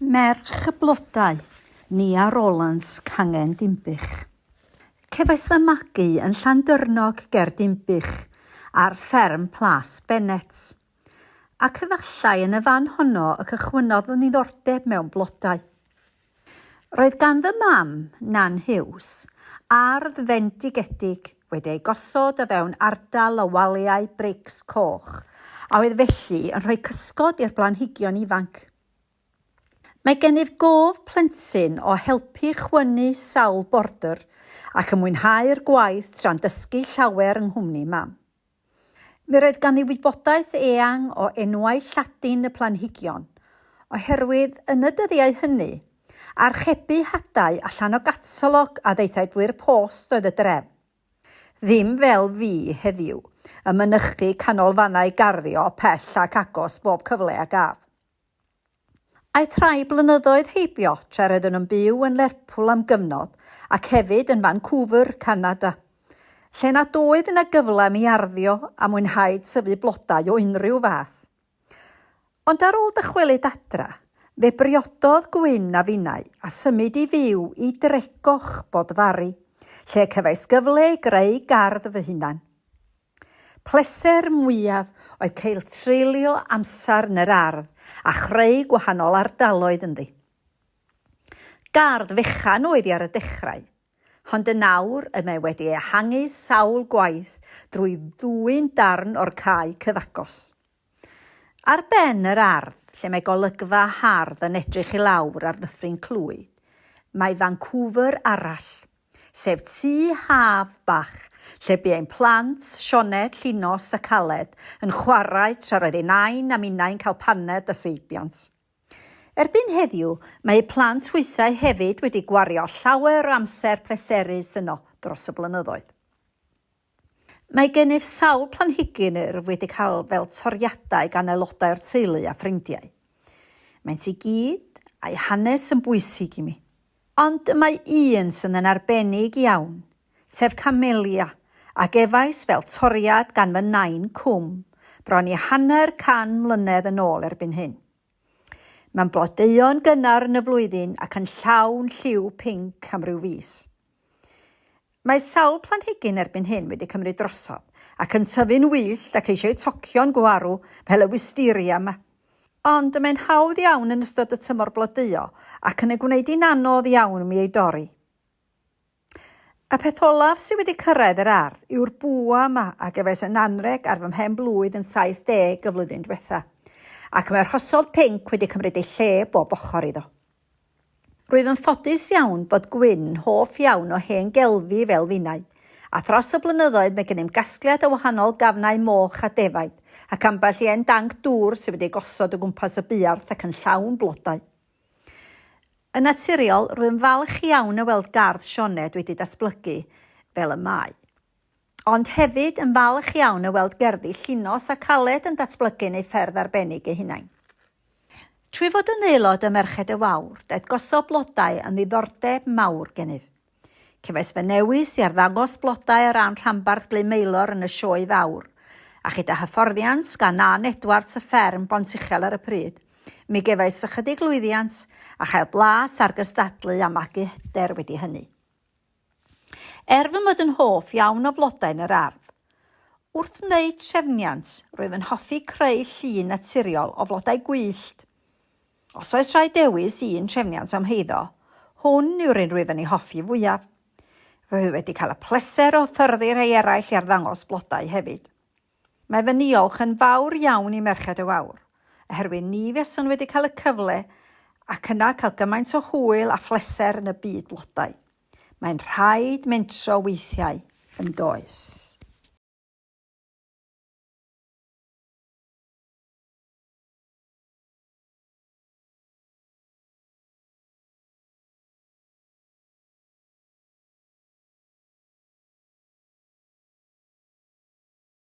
Merch y Blodau, Nia Rowlands, Cangen Dinbych. Cefais fy magu yn Llandyrnog ger Dinbych, ar fferm Plas Bennets. Ac efallai yn y fan honno y cychwynnodd fy niddordeb mewn blodau. Roedd gan fy mam, Nan Hughes, ardd fendigedig wedi ei gosod o fewn ardal o waliau brics coch a oedd felly yn rhoi cysgod i'r blanhigion ifanc. Mae gennyf gof plentyn o helpu chwynnu sawl bordr ac yn mwynhau'r gwaith tra'n dysgu llawer yng nghwmni mam. Mi roedd ganddi wybodaeth eang o enwau Lladin y planhigion, oherwydd yn y dyddiau hynny, archebu hadau allan o gatalog a ddaethai drwy'r post oedd y drefn. Ddim fel fi heddiw, yn mynychu canolfannau garddio pell ac agos bob cyfle a gaf. Aeth rhai blynyddoedd heibio tra roeddwn yn byw yn Lerpwl am gyfnod ac hefyd yn Vancouver, Canada, lle nad oedd yna gyfle i mi arddio a mwynhau tyfu blodau o unrhyw fath. Ond ar ôl dychwelyd adra, fe briododd Gwyn a finnau a symud i fyw i Dregoch, Bodfari, lle cefais gyfle i greu gardd fy hunan. Pleser mwyaf oedd cael treulio amser yn yr ardd a chreu gwahanol ardaloedd ynddi. Gardd fechan oedd hi ar y dechrau, hond yn awr y mae wedi ehangu sawl gwaith drwy ddwyn darn o'r cae cyfagos. Ar ben yr ardd, lle mae golygfa hardd yn edrych i lawr ar Ddyffryn Clwyd, mae Vancouver arall, sef tŷ haf bach lle bu ein plant, Sioned, Llinos ac Aled, yn chwarae tra roedd ei nain a minnau'n cael paned a seibiant. Erbyn heddiw, mae eu plant hwythau hefyd wedi gwario llawer o amser pleserus yno dros y blynyddoedd. Mae gennyf sawl planhigyn yr wyf wedi cael fel toriadau gan aelodau o'r teulu a ffrindiau. Maent i gyd, a'u hanes, yn bwysig i mi. Ond y mae un sydd yn arbennig iawn, sef Camellia, a gefais fel toriad gan fy nain cwm bron i hanner can mlynedd yn ôl erbyn hyn. Mae'n blodeuo'n gynnar yn y flwyddyn ac yn llawn lliw pinc am ryw fis. Mae sawl planhigyn erbyn hyn wedi cymryd drosodd ac yn tyfu'n wyllt ac eisiau tocio'n gwarw fel y wisteria yma. Ond y mae'n hawdd iawn yn ystod y tymor blodeuo ac yn ei gwneud hi'n anodd iawn mi ei dorri. Y peth olaf sydd wedi cyrraedd yr ardd yw'r bwa yma a gefais yn anreg ar fy mhen blwydd yn 70 y flwyddyn diwetha', ac mae'r rhosod pinc wedi cymryd ei lle bob ochr iddo. Rwyf yn ffodus iawn bod Gwyn'n hoff iawn o hen gelfi fel finau, a thros y blynyddoedd mae gennym gasgliad o wahanol gafnau moch a defaid, ac ambell i hen danc dŵr sydd wedi gosod o gwmpas y buarth ac yn llawn blodau. Yn naturiol, rwyf yn falch iawn o weld gardd Sioned wedi datblygu fel y mae. ond hefyd yn falch iawn o weld gerddi Llinos ac Aled yn datblygu'n eu ffyrdd arbennig eu hunain. Trwy fod yn aelod ym Merched y Wawr, daeth gosod blodau yn ddiddordeb mawr gennyf. Cefais fy newis i arddangos blodau ar ran rhanbarth Glyn Maelor yn y Sioe Fawr, a chyda hyfforddiant gan Ann Edwards y fferm Bontuchel ar y pryd, mi gefais ychydig lwyddiant a chael blas ar gystadlu a magu hyder wedi hynny. Er fy mod yn hoff iawn o flodau yn yr ardd, wrth wneud trefniant rwyf yn hoffi creu llun naturiol o flodau gwyllt. Os oes rhaid dewis un trefniant o'm heiddo, hwn yw'r un rwyf yn ei hoffi fwyaf. Rwy wedi cael y pleser o hyfforddi rhai eraill i arddangos blodau hefyd. Mae fy niolch yn fawr iawn i Merched y Wawr, oherwydd ni fuaswn wedi cael y cyfle ac yna cael gymaint o hwyl a phleser yn y byd blodau. Mae'n rhaid mentro weithiau, yn does?